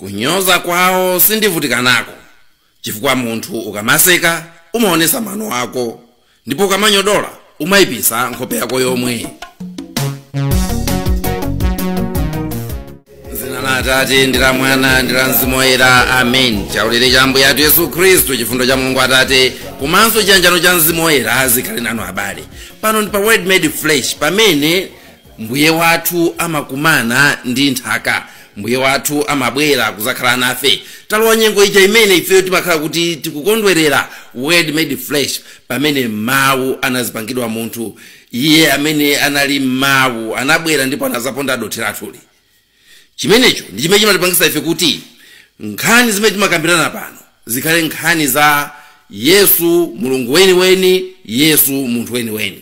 kunyoza kwawo sindivutika nako chifukwa munthu ukamaseka umaonesa mano ako ndipo ukamanyodola umayipisa nkhope yako yomwe m'dzina la atate ndi la mwana ndi la mzimu woyera amen chaulere cha ambuye athu yesu khristu chifundo cha mulungu atate komanso chiyanjano cha mzimu woyera zikhale nanu abale pano ndi pa word made flesh pamene Mbuye wathu amakumana ndi nthaka. Mbuye wathu amabwera kuzakhala nafe. Talowa nyengo ija imene ifeyo timakhala kuti tikukondwerera word made flesh pamene mawu anazipangidwa munthu. Iye amene anali mawu anabwera ndipo anazaponda dothi lathuli. Chimenecho ndi chimene chimatipangisa ife kuti nkhani zimene timakambirana pano zikhale nkhani za Yesu Mulungu weniweni, Yesu munthu weniweni.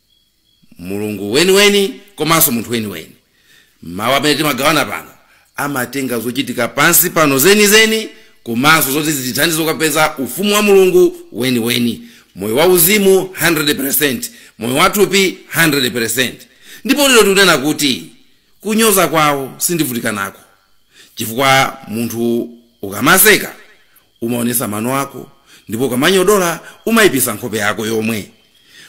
mulungu weniweni komanso munthu weniweni mawu amene timagawana pano amatenga zochitika pansi pano zenizeni komanso zoti zitithandize kukapeza ufumu wa mulungu weniweni moyo wa uzimu 100 percent moyo wathupi 100 percent ndipo lero tikunena kuti kunyoza kwawo sindivutika nako chifukwa munthu ukamaseka umaonesa mano ako ndipo ukamanyodola umaipisa nkhope yako yomwe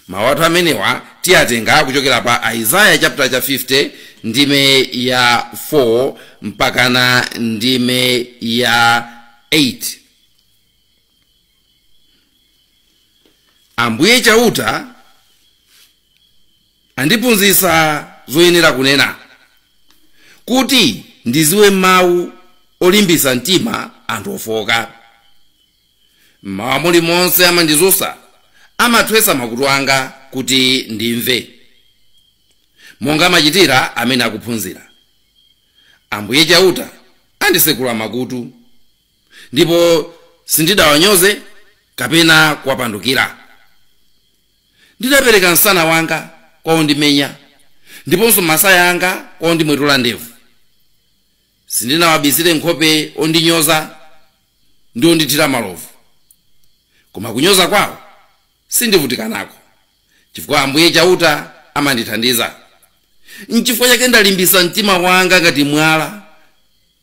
mawu athu amenewa tiyatenga kuchokera pa aizaya chapter cha 50 ndime ya 4 mpakana ndime ya 8 ambuye chauta Andiphunzisa zoyenera kunena, Kuti ndiziwe mawu olimbisa mtima anthu ofooka. M'mawa mulimonse amandizusa, Amathwesa makutu anga kuti ndimve. Monga amachitira amene akuphunzira. Ambuye Chauta andisekula makutu, Ndipo sindidawanyoze kapena kuwapandukira. ndinapereka msana wanga kwa ondimenya ndiponso masaya anga kwa ondimwetula ndevu sindinawabisire nkhope ondinyoza ndi ondithira malovu koma kunyoza kwawo sindivutika nako chifukwa ambuye chauta amandithandiza nchifukwa chake ndalimbisa mtima wanga ngati mwala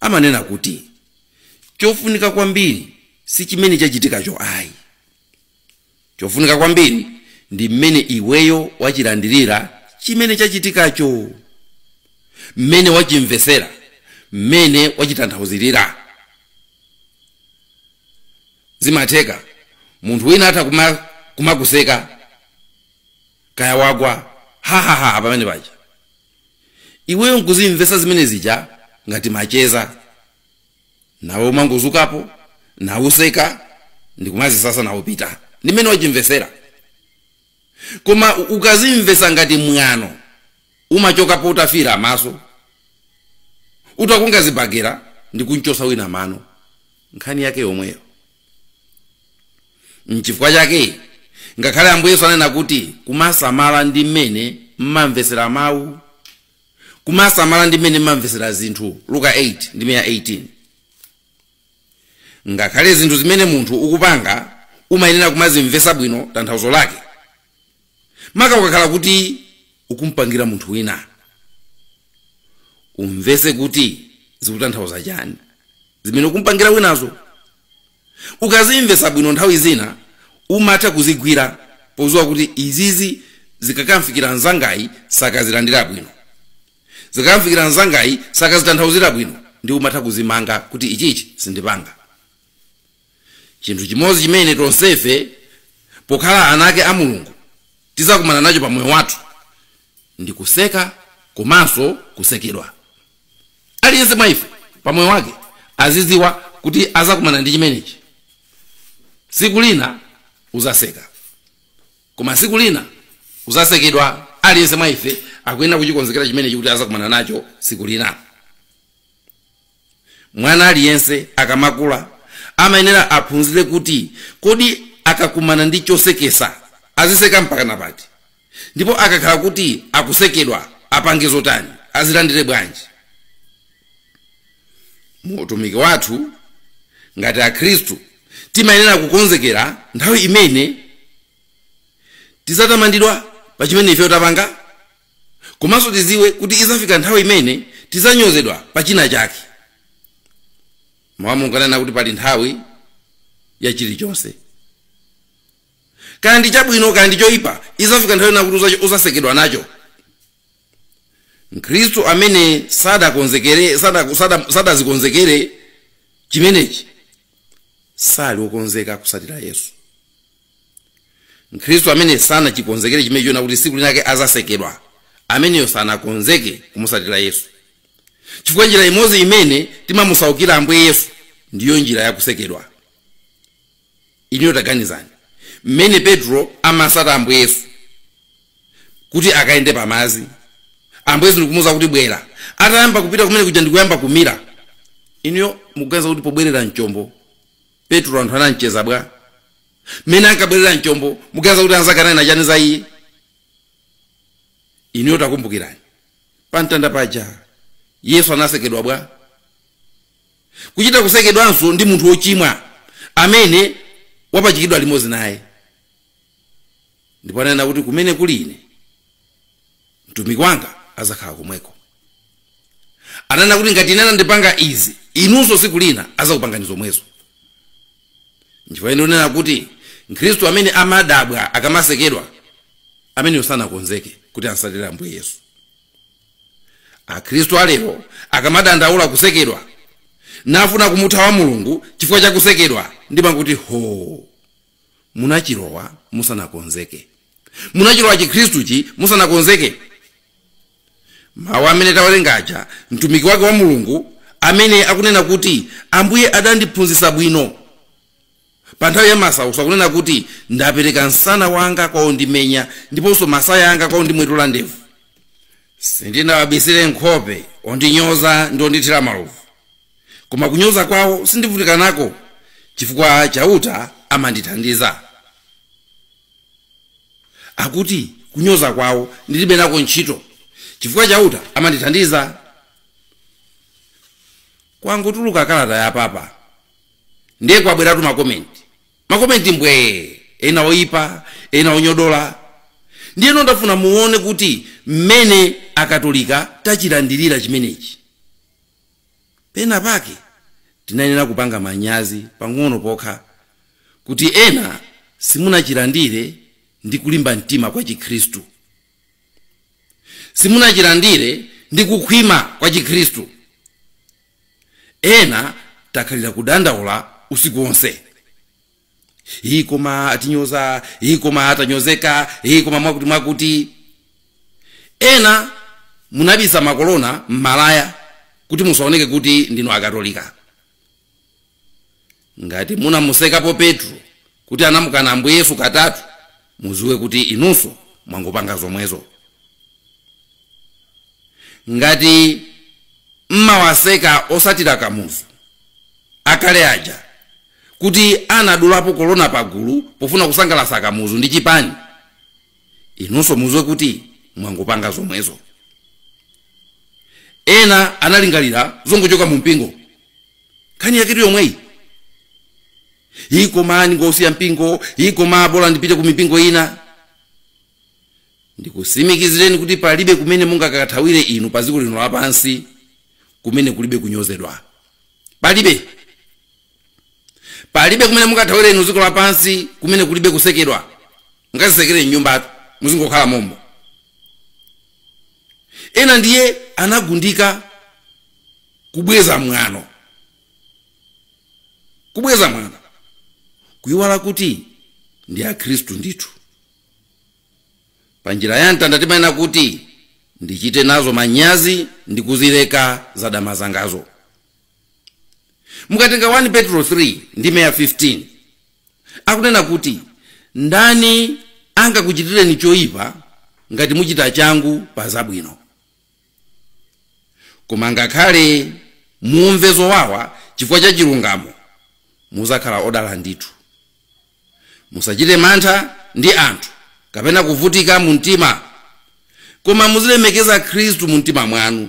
amanena kuti chofunika kwambiri si chimene chachitikacho ayi chofunika kwambiri ndi mmene iweyo wachilandirira chimene chachitikacho mmene wachimvesera mmene wachitanthauzirira zimatheka munthu wina atha kumakuseka kaya wagwa hahaha pamene paja Iweyo nkuzimvesa zimene zija ngati macheza. Nawe umangozukapo, nauseka, ndikumazisasa nawupita. Ndi mmene wachimvesera. Koma ukazimvesa ngati mwano, umachokapo utafiira maso, utakunga zibagera ndikunchosa wina mano. Nkhani yake yomweyo. nchifukwa chake ngakhale ambuye yesu anena kuti kumasamala ndi mmene mmamvesera mawu kumasamala ndi mmene mmamvesera zinthu luka 8 ndime ya 18 ngakhale zinthu zimene munthu ukupanga umayenera kumazimvesa bwino tanthauzo lake maka ukakhala kuti ukumpangira munthu wina umvese kuti zikutanthauza chani zimene ukumpangira winazo ukazimvesa bwino nthawi zina umatha kuzigwira podziwa kuti izizi zikakamfikira mzangayi sakazilandira bwino zikakamfikira mzangayi sakazitanthauzira bwino nde umatha kuzimanga kuti ichichi sindipanga chinthu chimodzi chimene tonsefe pokhala ana ake a mulungu tizakumana nacho pa moyo wathu ndi kuseka komanso kusekedwa aliyense mwa ife pa moyo wake aziziwa kuti azakumana ndi chimenechi siku lina uzaseka koma siku lina uzasekedwa aliyense mwa ife akuyenera kuchikonzekera chimenechi kuti azakumana nacho siku lina Mwana aliyense akamakula amayenera aphunzire kuti kodi akakumana ndi chosekesa aziseka mpaka pati ndipo akakhala kuti akusekedwa apange zotani azilandire bwanji mu utumiki wathu ngati akhristu timayenera kukonzekera nthawi imene tizatamandidwa pa chimene ife tapanga komanso tiziwe kuti izafika nthawi imene tizanyozedwa pa china chake mawu a mulungu ananena kuti pali nthawi ya chilichonse kaya ndi chabwino kaya ndi choyipa izafika nthawi ina kuti uza- uzasekedwa nacho mkhristu amene sadakonzekere sada- sada- sadazikonzekere chimenechi sali wokonzeka kusatira yesu mkhristu amene sanachikonzekere chimenechi chonena kuti siku linake azasekedwa ameneyo sanakonzeke kumusatira yesu chifukwa njira imodzi imene timamusaukira ambuye yesu ndiyo njira yakusekedwa inuyo taganizani mmene petro amasata ambuye yesu kuti akayende pamazi ambuye yesu ndikumuuza kuti bwera atayamba kupita kumene kuja ndikuyamba kumira inuyo mukuganiza kuti pobwerera mchombo petro anthu anamseka bwa mmene ankabwerera mchombo muganiza kuti anzake ananena chani za iye inuyo takumbukirani pamtanda paja yesu anasekedwa bwa kuchita kusekedwanso ndi munthu wochimwa amene wapachikidwa limodzi naye ndipo ananena kuti kumene kuli ine mtumiki wanga azakhala komweko ananena kuti ngati ine anandipanga izi inunso tsiku lina azakupangani zomwezo nchifukwa chake ndimanena kuti mkhristu amene amadabwa akamasekedwa ameneyo sanakonzeke kuti amsatire ambuye yesu akhristu alero akamadandaula kusekedwa nafuna kumuthawa mulungu chifukwa cha kusekedwa ndimangoti ho munachilowa musanakonzeke munachilowa chikhristuchi musanakonzeke mawu amene tawerenga aja mtumiki wake wa mulungu mmene akunena kuti ambuye adandiphunzitsa bwino pa nthawi ya masautso akunena kuti ndapereka msana wanga kwa ondimenya ndiponso masaya anga kwa ondimwetula ndevu sindinawabisire nkhope ondinyoza ndi ondithira malovu koma kunyoza kwawo sindivutika nako chifukwa chauta amandithandiza akuti kunyoza kwawo ndilibe nako ntchito chifukwa chauta amandithandiza kwangotuluka kalata ya papa ndiye kwabweratu makomenti makomenti mbwee ena oyipa ena onyodola ndiyeno ndafuna muone kuti mmene akatolika tachilandirira chimenechi Pena pake tinayenera kupanga manyazi pang'ono pokha kuti ena simunachilandire ndi kulimba mtima kwa Chikhristu. Simunachilandire ndi kukhwima kwa Chikhristu. Ena takhalira kudandaula usiku wonse. hii koma atinyoza hii koma tanyozeka hii koma mwakuti mwakuti ena munabisa makolona m'malaya kuti musaoneke kuti ndinu akatolika ngati munamusekapo petro kuti anamukana ambuye yesu katatu muziwe kuti inunso mwangopanga zomwezo ngati mmawaseka osatira kamuzu akale aja kuti anadulapo kolona pagulu pofuna kusangalasa kamuzu ndi chipani inunso muziwe kuti mwangopanga zomwezo ena anaringalira zongochoka mu mpingo nkhani yaketu yomweyi ii koma ndingosiya mpingo ii koma bola ndipite ku mipingo ina ndikusimikizireni kuti palibe kumene mungakathawire inu pa dziko lino lapansi kumene kulibe kunyozedwa palibe palibe kumene mungathawire inu dziko lapansi kumene kulibe kusekedwa mungazitsekere mnyumbatu muzingokhala momo ena ndiye anagundika kubweza mwano kubweza mwano kuyiwala kuti ndi akhristu ndithu pa njira ya mtanda timanena kuti ndichite nazo manyazi ndi kuzileka za dama zangazo mukatenga 1 petro 3 ndime ya 15 akunena kuti ndani angakuchitireni choyipa ngati muchita changu pa zabwino koma ngakhale mumve zowawa chifukwa cha chilungamo muzakhala odala ndithu musachite mantha ndi anthu kapena kuvutika mu mtima koma muzilemekeza khristu mu mtima mwanu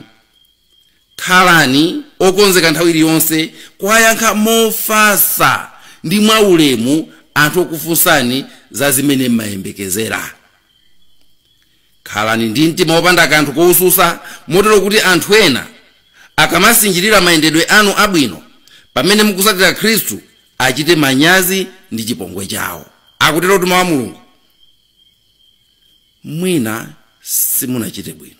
khalani okonzeka nthawi iliyonse kuwayankha mofatsa ndi mwaulemu anthu okufunsani za zimene mmayembekezera Khalani ndi mtima wopanda kanthu koususa motero kuti anthu ena akamasinjirira mayendedwe anu abwino pamene mukutsatira Khristu, achite manyazi ndi chipongwe chawo. Akutero tu Mawu a Mulungu. Mwina simunachite bwino.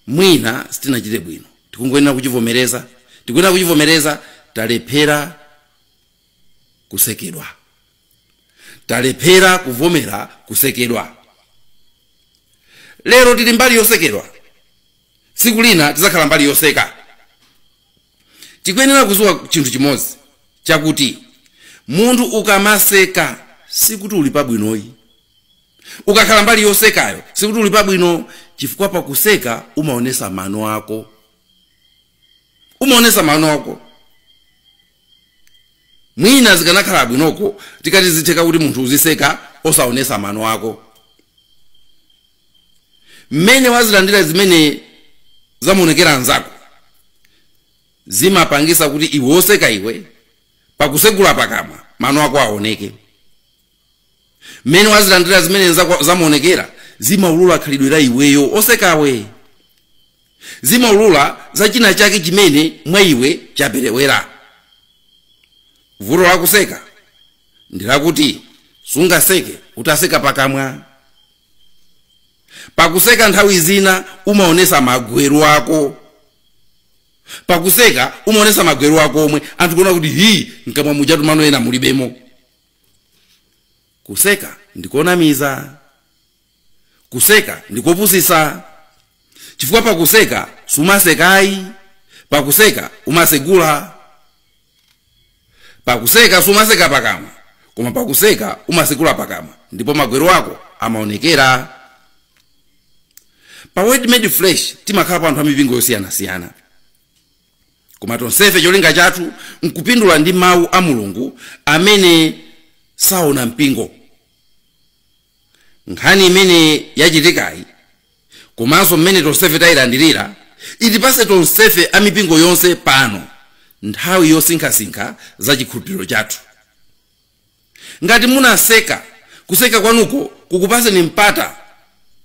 Mwina sitinachite bwino. Tikungoyenera kuchivomereza. Tikuyenera kuchivomereza talephera kusekedwa. talephera kuvomera kusekedwa lero tili mbali yosekedwa tsiku lina tizakhala mbali yoseka tikuyenera kuziwa chinthu chimodzi chakuti munthu ukamaseka sikuti uli pabwinoyi ukakhala mbali yosekayo sikuti uli pabwino chifukwa pakuseka umaonesa mano ako umaonesa mano ako mwina zikanakhala bwinoko zikati zitheka kuti munthu uziseka osaonesa mano ako mmene wazilandira zimene zamuonekera nzako zimapangisa kuti iwe oseka iwe pakusegula pakamwa mano ako aoneke mmene wazilandira zimene zamuonekera zimaulula khalidwe la iweyo osekawe zimaulula za china chake chimene mwa iwe chaperewera vuto lakuseka ndi lakuti sungaseke utaseka pakamwa pakuseka nthawi zina umaonesa magweru ako pakuseka umaonesa magweru ako omwe anthu kuona kuti hi mkamwa mujatu mano ena mulibemo Kuseka ndi konamiza. Kuseka ndi kopusitsa, chifukwa pakuseka sumaseka ayi, pakuseka umatsegula. Pakuseka sumaseka pakamwa, koma pakuseka umatsegula pakamwa ndipo magweru ako amaonekera. Pa Word Made Flesh timakhalapo anthu a mipingo yosiyanasiyana. koma tonsefe cholinga chathu nkupindula ndi mawu a mulungu amene saona mpingo nkhani imene yachitikayi komanso mmene tonsefe tayilandirira itipase tonsefe a mipingo yonse pano nthawi yosinkhasinkha za chikhulupiriro chathu ngati munaseka kuseka kwanuko kukupaseni mpata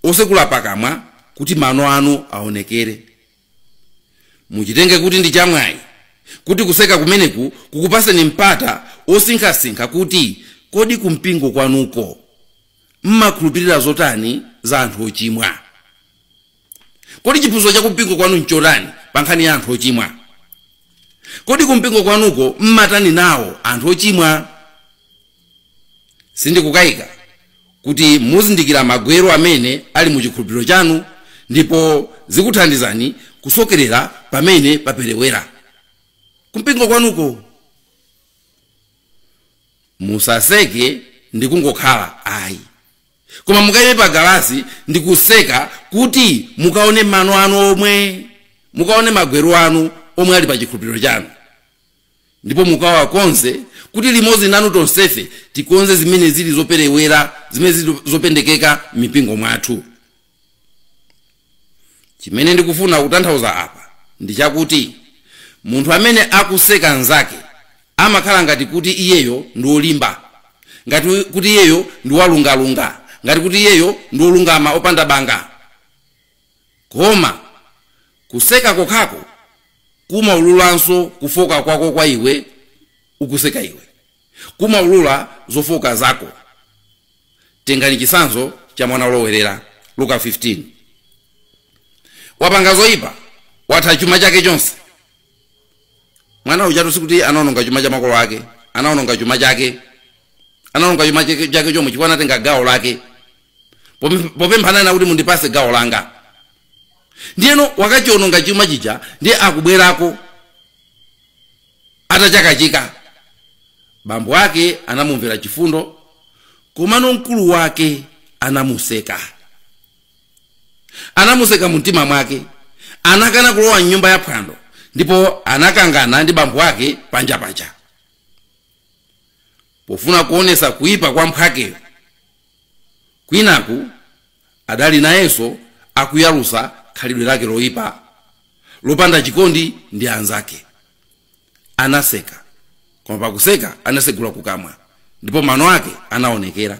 osekula pakamwa kuti mano anu aonekere muchitenge kuti ndi chamwayi kuti kuseka kumeneku kukupaseni mpata osinkhasinkha kuti kodi kumpingo kwanuko mmakhulupirira zotani za anthu ochimwa kodi chiphunzitso cha kumpingo kwanu nchotani pa nkhani ya anthu ochimwa kodi kumpingo kwanuko mmatani nawo anthu ochimwa sindikukayika kuti muzindikira magweru amene ali mu chikhulupiriro chanu ndipo zikuthandizani kusokerera pamene paperewera kumpingo kwanuko musaseke ndi kungokhala ayi koma mukayime pa galasi ndi kuseka kuti mukaone mano anu omwe mukaone magweru anu omwe ali pa chikhulupiriro chanu ndipo mukawakonze kuti limodzi nanu tonsefe tikonze zimene zili zoperewera zimene zili zopendekeka m'mipingo mwathu chimene ndikufuna kutanthauza apa ndi chakuti munthu amene akuseka nzake amakhala ngati kuti iyeyo ndi wolimba ngati kuti iyeyo ndi walungalunga ngati kuti iyeyo ndi wolungama opanda banga Koma kuseka kokhako kumaululanso kufoka kwako kwa iwe ukuseka iwe. Kumaulula zofoka zako. Tengani chisanzo cha mwana olowerera Luka 15. Wapanga zoipa, watha chuma chake chonse. mwana ujatu sikuti anaononga chuma cha makolo ake anaononga chuma chake anaononga chuma chake chake chomwe chifukwa anatenga gawo lake Popem- popemphana kuti mundipase gawo langa ndiyeno wakachiononga chuma chija ndiye akubwerako atachakachika bambo ake anamumvera chifundo komano mkulu wake anamuseka anamuseka mu mtima mwake anakana kulowa mnyumba ya phwando ndipo anakangana ndi bambo ake panja paja pofuna kuonesa kuyipa kwa mphwakeyo kwinaku adali nayenso akuyalusa khalidwe lake loipa lopanda chikondi ndi anzake anaseka koma pakuseka anasegula kukamwa ndipo mano ake anaonekera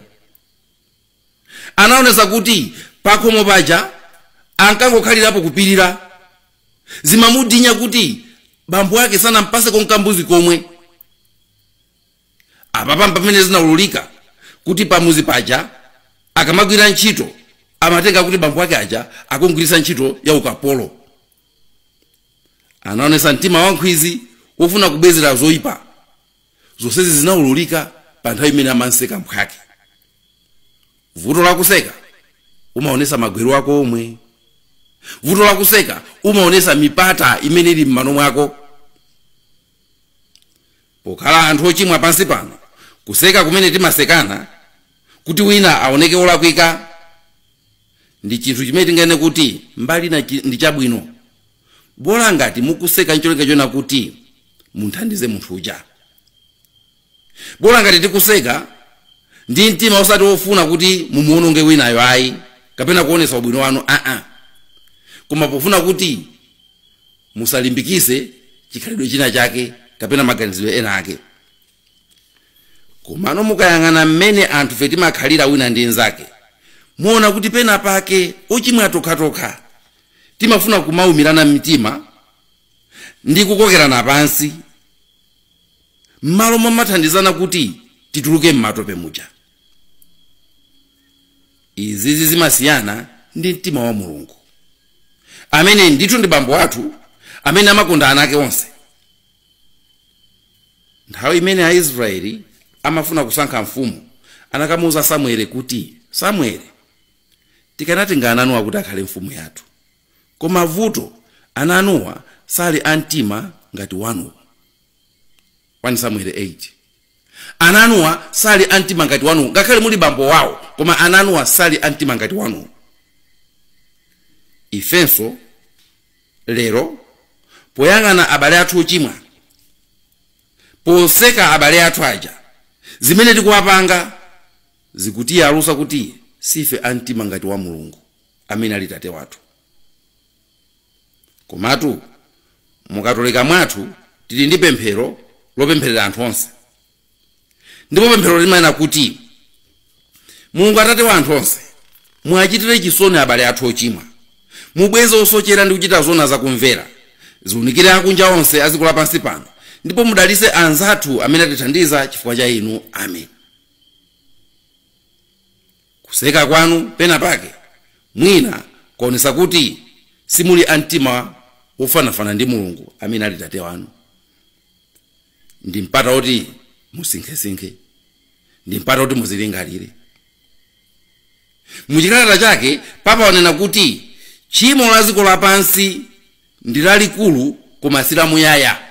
anaonesa kuti pakhomo paja ankangokhalirapo kupirira zimamudinya kuti bambo ake sanampase konkambuzi komwe apapa mpamene zinaululika kuti pamuzi paja akamagwira ntchito amatenga kuti bambo ake aja akungwirisa ntchito ya ukapolo anaonesa mtima wankhwizi wofuna kubwezera zoyipa zonsezi zinaululika pa nthawi imene amanseka mphwake vuto lakuseka umaonesa magwero ako omwe vuto lakuseka umaonesa mipata imene ili m'mano mwako pokhala anthu ochimwa pansi pano kuseka kumene timasekana kuti wina aoneke olakwika ndi chinthu chimene tinganene kuti mbali na chi- ndi chabwino bola ngati mukuseka ncholinga chona kuti munthandize munthu uja bola ngati tikuseka ndi mtima osati wofuna kuti mumuwononge winayo ayi kapena kuonesa ubwino wanu aa koma pofuna kuti musalimbikise chikhalidwe china chake kapena maganizidwe ena ake komano mukayang'ana mmene anthufe timakhalira wina ndi nzake muona kuti pena pake ochimwa tokhatokha timafuna kumaumirana mitima ndi kukokerana pansi m'malo momathandizana kuti tituluke m'matope muja izizi zimasiyana ndi mtima wa mulungu amene ndithu ndi bambo athu amene amakonda ana ake onse Nthawi imene Aisrayeli amafuna kusankha mfumu, anakamuuza Samueli kuti, Samueli, tikanatenga ana anuwa kuti akhale mfumu yathu. Koma vuto, ana anuwa sali a mtima ngati wanuwu. 1 Samueli 8, Ana anuwa sali a mtima ngati wanuwu. Ngakhale muli bambo wawo, koma ana anuwa sali a mtima ngati wanuwu. Ifenso lero poyang'ana abale athu ochimwa poseka abale athu aja zimene tikuwapanga zikutiyalusa kuti sife a mtima ngati wa mulungu amene ali tate wathu komatu mukatolika mwathu tili ndi pemphero lopempherera anthu onse ndipo pemphero limanena kuti mulungu atate wa anthu onse muwachitire chisoni abale athu ochimwa mubweze osochera ndi kuchita zona zakumvera ziunikire akunja onse a dziko lapansi pano ndipo mudalitse anzathu amene atithandiza chifukwa cha inu amen kuseka kwanu pena pake mwina kuonesa kuti simuli a mtima wofanafana ndi mulungu amene ali tate wanu ndi mpata woti musinkhesinkhe ndi mpata woti muzilingalire muchikalata chake papa wanena kuti tchimo la dziko lapansi ndi lalikulu koma si lamuyaya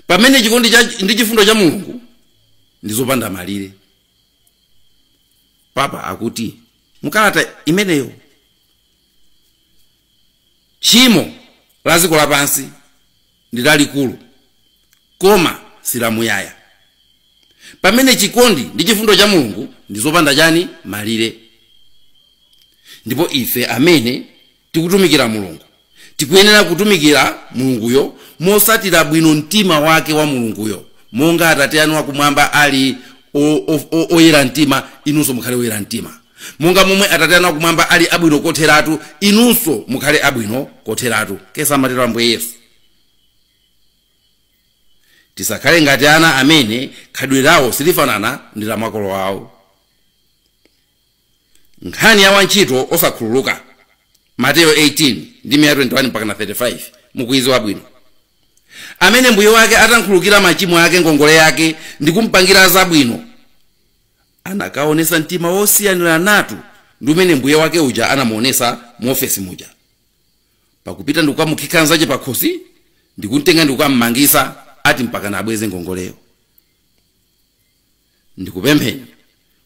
pamene chikondi ndi chifundo cha mulungu ndi zopanda malire papa akuti mukalata imeneyo tchimo la dziko lapansi ndi lalikulu koma silamuyaya pamene chikondi ndi chifundo cha mulungu ndi zopanda chani malire ndipo ife amene tikutumikira mulungu tikuyenera kutumikira mulunguyo mosatira bwino mtima wake wa mulunguyo monga atate anu akumwamba ali o- o- o- oyera mtima inunso mukhale oyera mtima Monga momwe Atate anu akumwamba ali abwino kotheratu, inunso mukhale abwino kotheratu, kk amatero Ambuye Yesu. Tisakhale ngati ana amene khalidwe lawo silifanana ndi la makolo awo. Nkhani ya wantchito osakhululuka, Mateyo 18 ndime ya 21 mpakana 35, mukuidziwa bwino. Amene mbuye wake atamkhululukira machimo ake ngongole yake ndi kumpangira zabwino, anakaonetsa mtima wosiyaniranatu ndi umene mbuye wake uja anamuonetsa mu ofesi muja pakupita ndikukamukhika nzache pakhosi ndikumtenga ndikukammangisa ati mpakana abweze ngongoleyo ndikupempheni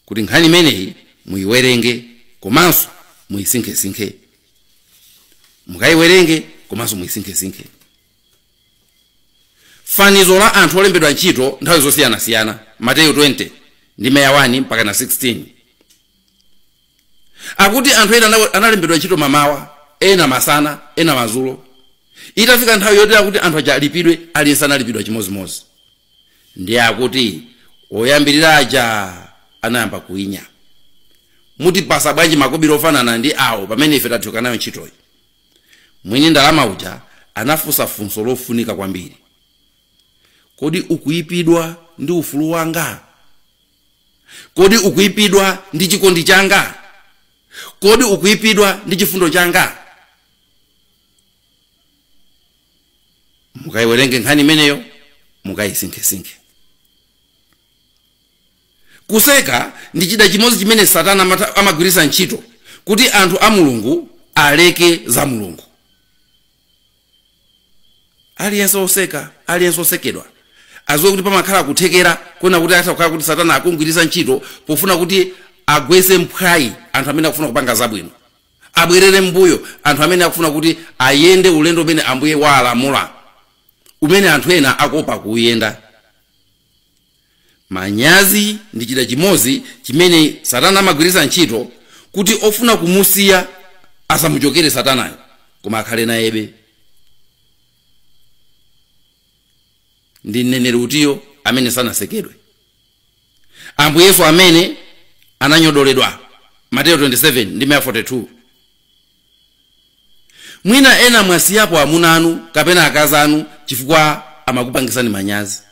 kuti nkhani imeneyi muyiwerenge komanso muyisinkhesinkhe mukayiwerenge komanso muyisinkhesinkhe Fanizo la anthu olembedwa ntchito nthawi zosiyanasiyana, Mateyu 20, ndime ya 1 mpakana 16. Akuti anthu ena analembedwa ntchito mamawa, ena masana, ena madzulo. Itafika nthawi yoti akuti anthu aja alipidwe, aliyense analipidwa chimodzimodzi. Ndiye akuti oyambirira aja anayamba kuwinya. Mutipasa bwanji makobiri ofanana ndi awo pamene ife tathyoka nayo ntchitoyi? Mwini ndalama uja anafunsa funso lofunika kwambiri. Kodi ukuipidwa ndi ufulu wanga? Kodi ukuipidwa ndi chikondi changa? Kodi ukuipidwa ndi chifundo changa? Mukaiwerenge nkhani imeneyo, mukaisinkhesinkhe. Kuseka ndi chida chimodzi chimene Satana amagwiritsa ntchito kuti anthu a Mulungu aleke za Mulungu. Aliyense oseka, aliyense osekedwa aziwe kuti pamakhala kuthekera kuona kuti atha kukhala kuti Satana akumgwiritsa ntchito pofuna kuti agwetse mphwayi anthu amene akufuna kupanga zabwino, abwerere m'mbuyo anthu amene akufuna kuti ayende ulendo umene Ambuye walamula umene anthu ena akuopa kuuyenda. manyazi ndi chida chimodzi chimene satana amagwiritsa ntchito kuti ofuna kumusiya asamuchokere satanayo koma akhale nayebe ndi mneneri utiyo amene sanasekedwe ambuye yesu amene ananyodoledwa mateyu 27 ndime ya 42 Mwina ena mwasiyapo amuna anu kapena akazi anu chifukwa amakupangisani manyazi,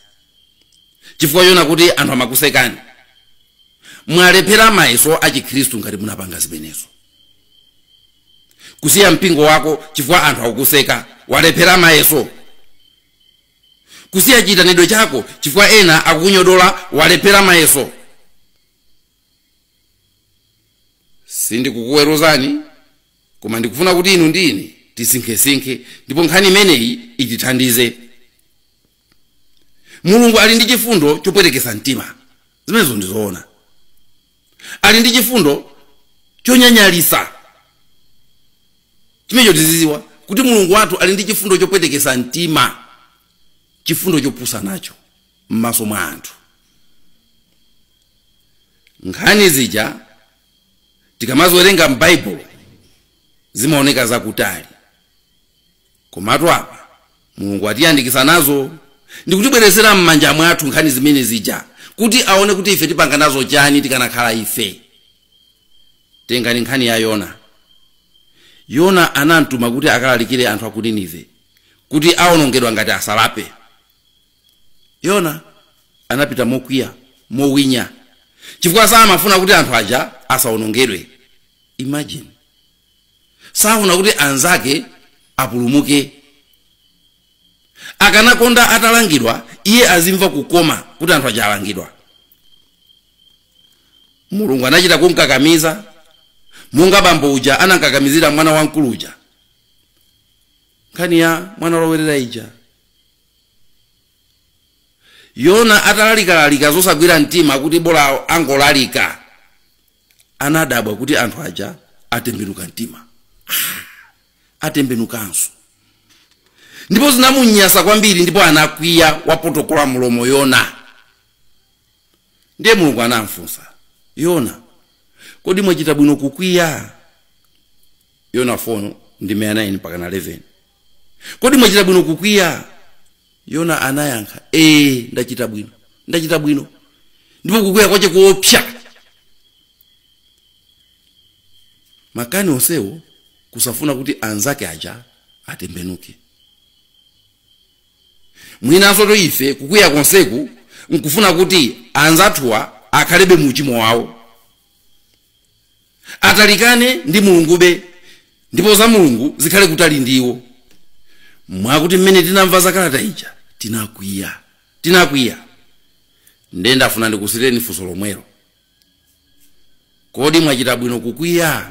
chifukwa choona kuti anthu amakusekani. Mwalephera mayeso a Chikhristu ngati munapanga zimenezo. Kusiya mpingo wako chifukwa anthu akukuseka, walephera mayeso. Kusiya chiitanidwe chako chifukwa ena akukunyodola, walephera mayeso. sindikukuweruzani koma ndikufuna kuti inu ndi ine tisinkhesinkhe ndipo nkhani imeneyi itithandize mulungu ali ndi chifundo chopwetekesa mtima zimenezo ndizoona ali ndi chifundo chonyanyalisa chimenecho tiziziwa kuti mulungu wathu ali ndi chifundo chopwetekesa mtima chifundo chopusa nacho m'maso mwa anthu nkhani zija tikamaziwerenga m'baibulo zimaoneka zakutali komatu apa mulungu atiyandikisa nazo ndikutibweretsera m'manja mwathu nkhani zimene zija kuti aone kuti ife tipanga nazo chani tikanakhala ife tengani nkhani ya yona yona anamtuma kuti akalalikire anthu a ku ninive kuti awonongedwa ngati asalape yona anapita mokwiya mowinya chifukwa samafuna kuti anthu aja asawonongedwe imagine safuna kuti anzake apulumuke akanakonda atalangidwa iye azimva kukoma kuti anthu aja alangidwa mulungu anachita kumkakamiza monga bambo uja anamkakamizira mwana wamkulu uja nkhani ya mwana wolowerera ija yona atalalikalalika zosagwira mtima kuti bola angolalika anadabwa kuti anthu aja atembenuka mtima Ah, atembenukanso ndipo zinamunyasa kwambiri ndipo anakwiya wapotokola mulomo yona Ndiye Mulungu anamfunsa Yona, Kodi mwachita bwino kukwiya? Yona 4 ndime ya 9 mpaka na 11. Kodi mwachita bwino kukwiya? Yona anayankha, Ee, ndachita bwino, ndachita bwino, ndipo kukwiya kwache koopsa. Makani onsewo kusafuna kuti anzake aja atembenuke. mwinansotu ife kukwiya konseku nkufuna kuti anzathuwa akhalebe mu uchimo wawo atalikane ndi mulungube ndipo za mulungu zikhale kutali ndi iwo mwakuti mmene tinamva za kalata ija tinakwiya tinakwiya ndiye ndafuna ndikusiyireni funso lomwelo kodi mwachita bwino kukwiya